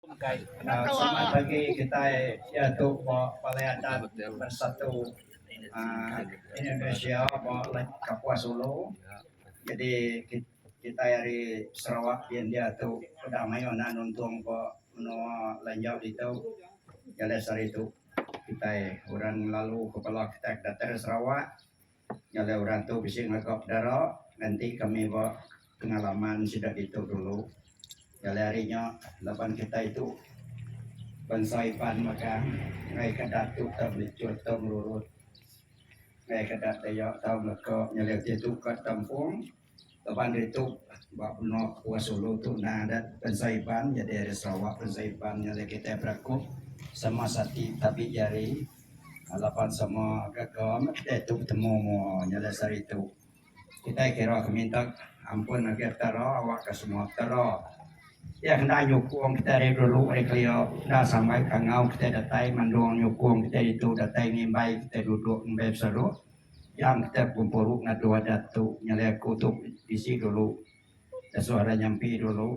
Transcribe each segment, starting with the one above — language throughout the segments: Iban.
Selamat pagi kitai diatu ba Balai Adat Bersatu Indonesia ba Kapuas Ulu. Jadi kitai ari Sarawak ti india tu udah mayuh enda nuntung ba menua lanjau ditu. Jalai sehari tu kitai orang lalu kepala kitai datang Sarawak Nyelai orang tu bisi ngaga pedara ngenti kami ba pengalaman sida ditu dulu. Nyelai ari nya laban kitai tu bansa Iban megang ngaika datu tau melichut tau merurut ngaika daya tau ngeka nyelai ti tu ka Tampung. Taban ditu, ba menua Kepua Sulu tu endang adat Pensa Iban nyadi ari Sarawak. Pensa Iban ngagai kitai berakup sama sati tabi jari laban sama gaga meh kitai tu betemu mua nya alai sehari tu. Kitai kira ke mintak ampun ngagai Petara awak ke semua Petara. Iya ke enda nyukung kitai ari dulu ari kelia enda samai kangau kitai datai mandung nyukung kitai ditu datai ngimbai kitai duduk ngumbai beseru. Yang kitai bekumpuru ngadu adat tu nyadi aku tu bisi dulu disuh ari nyampi dulu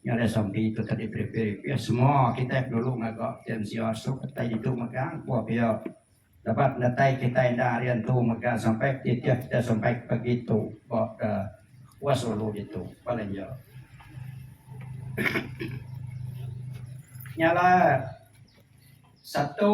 nyadi sampi tu tadi beripih ripih semua kitai dulu ngaga ti mensia sup datai ditu mega empu pia laban datai kitai enda ari antu mega sampai titih kitai sampai ke pagi tu ba ke West Ulu ditu paling iya. Nyala satu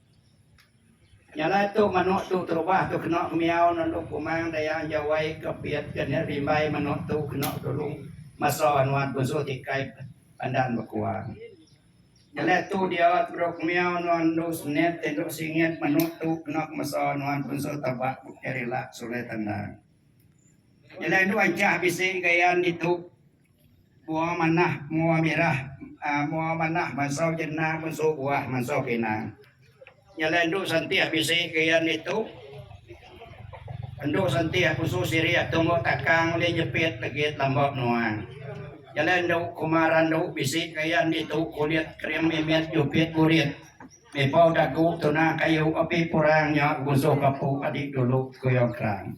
Nyalai tu manuk tu terubah tu kena kemiau nelu kumang daya enjau wai ke pit ke nya rimbai manuk tu kena dulu masa nuan bensu ti kai pandan bekuang. Nyalai tu dia tebedau kemiau nuan endu semenit te endu singit manuk tu kena kemesa nuan bensu tebak bukai rilak sulai tendang. Nyalai endu anchah bisi gayan ditu Mua manah mua mirah mua manah mansau jena munsu buah mansau kina. Nyala endu santih bisi gayan ditu. Endu santih pusu sirih tumu takang ulih nyepit legit lamba menua. Nyala endu kuma randu bisi gayan ditu kulit krim mimit jupit burit. Mipau dagu tuna kayu api purang nya gusuh kapu adi dulu kuyau kerang.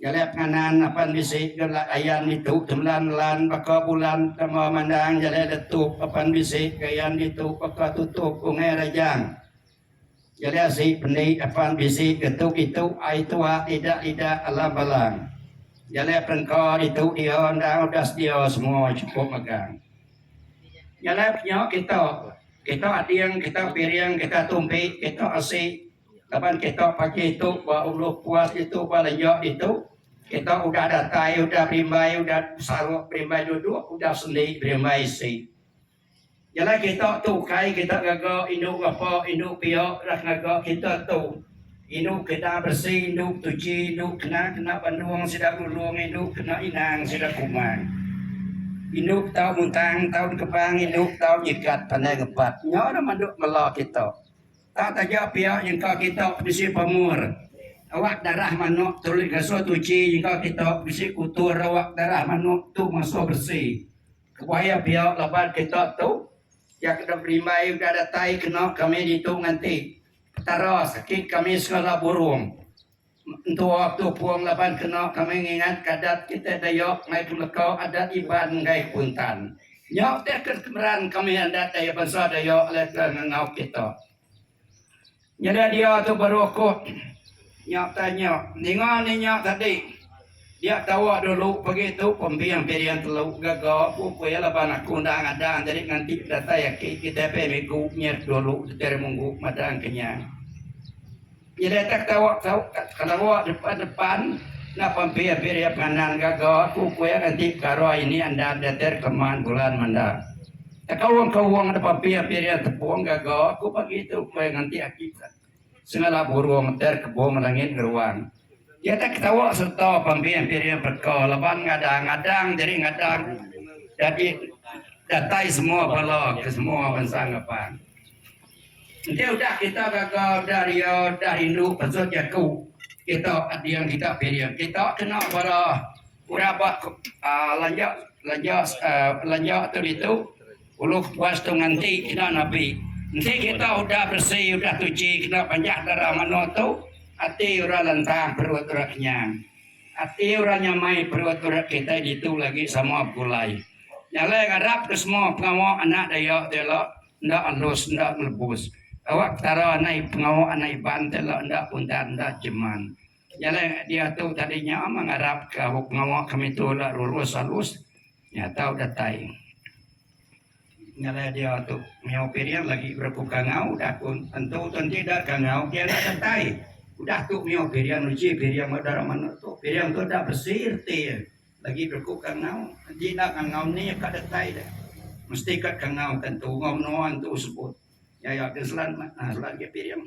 Jalai penganan apan bisi gerak ayan ditu tembelan lan baka bulan tama mandang jalai letup apan bisi ke ayan ditu baka tutup ungai rajang. Jalai asi pendi apan bisi ke tu kitu ai tua idak idak alam balang. Jalai perengka ditu dia endang udah sedia semua chukup megang. Jalai penya kita, kita ading, kita piring, kita tumpi, kita asi, Laban kita pagi tu ba Ulu Kuas ditu ba Lejok ditu kita udah datai udah berimbai udah besaruk berimbai duduk udah sendi berimbai isi. Jalai kita tu ukai kita ngaga indu ngapa indu pia udah ngaga kita tu indu kena beresi indu tuchi indu kena kena bandung sida bulung indu kena inang sida kumang. Indu tau muntang tau dikebang indu tau nyikat pandai ngepat nya dah madu mela kita. Tak taja pia nyengka kita bisi pamur awak darah manuk terulih ngasuh tuchi nyengka kita bisi kutur awak darah manuk tu ngasuh beresi. Kebuah iya pia laban kita tu iya ke dok berimbai udah datai kena kami ditu nganti Petara sakit kami segala burung. Entua tu pun laban kena kami ngingatka adat kitai Dayak mai pemeka adat Iban enggai Kuntan. Nya utai ke kemeran kami adat daya bansa Dayak alai ke ngangau kita. Nyadi dia tu baru aku nya utai nya ninga ni nya tadi dia tawa dulu pagi tu pembing piring telu gaga ku ku iya laban aku enda ngadang jadi nganti datai aki kitai pia migu nyet dulu diteremunggu madang kenyang. Iya deka tau tau kerewa depan depan enda pampi abih dia pangan gaga aku ku iya enti pekara ini enda diatur keman bulan menda. Teka wong ke wong enda pampi abih dia tepung gaga aku pagi tu ku iya nganti aki sengala burung atur kebung langit ngeruan. Iya deka tau sereta pampi abih dia bereka laban ngadang ngadang jadi ngadang jadi datai semua bala ke semua bansa ngeban. Enti udah kita gaga, udah ria, udah rindu pasut jaku kita ading giga piring kita kena bala orang ba lanja lanja lanja tu ditu ulu kepuas tu nganti kena napi. Enti kita udah beresi udah tuchi kena panjah dara mano tu ati orang lantang perut orang kenyang. Ati orang nyamai perut orang kitai ditu lagi sama begulai. Nyalai ngarap ke semua pengawa anak dayak tu ila. Enda alus enda ngelebus. Awak Petara nai pengawa anak Iban ti enda enda puntan enda jeman. Jalai ngai dia tu tadi nya mah ngarap ka abu pengawa kami tu enda lurus alus nya tau datai. Jalai dia tu Mio Piring lagi berepu kangau udah ku tentu tu enti enda kangau dia enda datai. Udah tu Mio Piring uji Piring ba dara manuk tu. Piring tu enda besi reti. Lagi berku kangau. Enti enda kangau ni ka detai deh. Mesti ka kangau ka entu enggau menoa entu sebut. Nya ya ke selan mat. Nah selan ke piring.